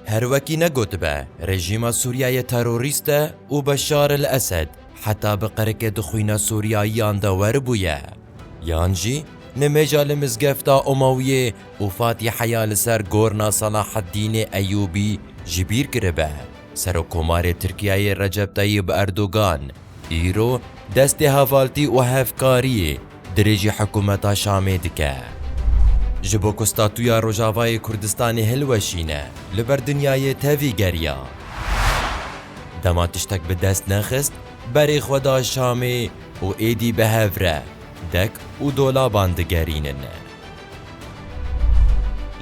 Her wekî ne gotibe rejîma Sûriyeyê terorîst e û Beşar el Esed heta bi qirikê di xwîna Sûriyayiyan de weribûye yan jî nimêja li mizgefta Umawiyê û Fatiheya li ser gorna Salaheddînê Eyûbî ji bîr kiribe. Serokkomarê Tirkiyeyê Recep Tayîb Erdogan îro destê hevaltî û hevkariyê dirêjî hikûmeta Şamê dike. Ji bo ku statuya Rojavayê Kurdistanê hilweşîne, li ber dinyayê tevî geriya. Dema tiştek bi dest nexist, berê xwe da Şamê û êdî bi hev re dek û dolaban digerînin.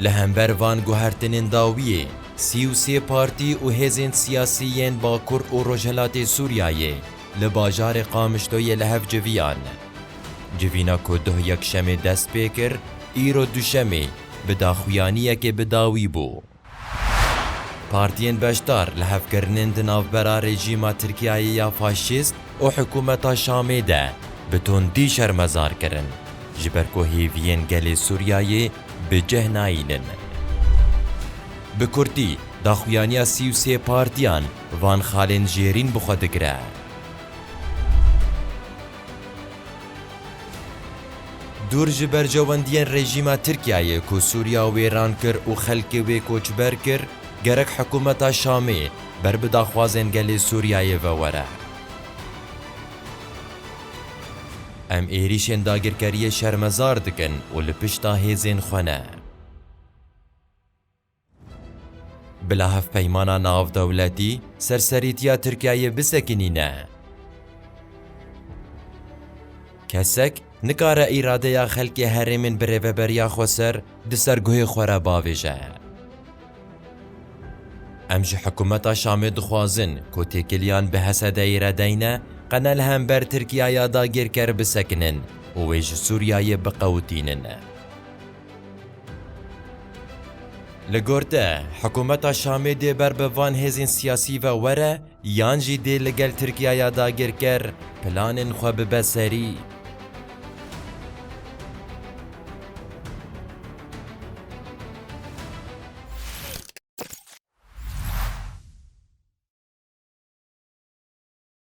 Li hember van guhertinên dawiyê, sî û sê partî û hêzên siyasî yên Bakur û Rojhilatê Sûriyayê Li bajarê Qamişloyê li hev civiyan. Civîna ku doh yekşemê dest pê kir, îro duşemê bi daxuyaniyekê bi dawî bû. Partiyên beşdar li hev kirinin di navbera rejîma Tirkiyeyê ya faşîst û hikûmeta Şamê de bi tundî şermezar kirin, ji ber ku hêviyên gelê Sûriyeyê bi cih nayînin. Bi kurtî, daxuyaniya sî û sê partiyan Van xalên jêrîn bi xwe digire. Dûr ji berjewendiyên rejîma Tirkiyeyê ku Sûriya wêran kir û xelkê wê koçber kir, gerek hikûmeta Şamê ber bi daxwazên gelê Sûriyeyê ve were. Em êrîşên dagirkeriyê şermezar dikin û li pişta hêzên xwe ne. Bila hevpeymana navdewletî serserîtiya Tirkiyeyê bisekinîne. Kesek nikare îradeya xelkê herêmên bi rêveberiya xwe ser di ser guhê xwe re bavêje. Em ji hikûmeta Şamê dixwazin ku têkiliyan bi HSD'ê re deyne, qene li hember Tirkiyeya dagirker bisekinin û wê ji Sûriyeyê biqewitînin. Li gor te hikûmeta Şamê dê ber bi van hêzên siyasî ve were yan jî dê li gel Tirkiye ya dagirker planên xwe bibe serî?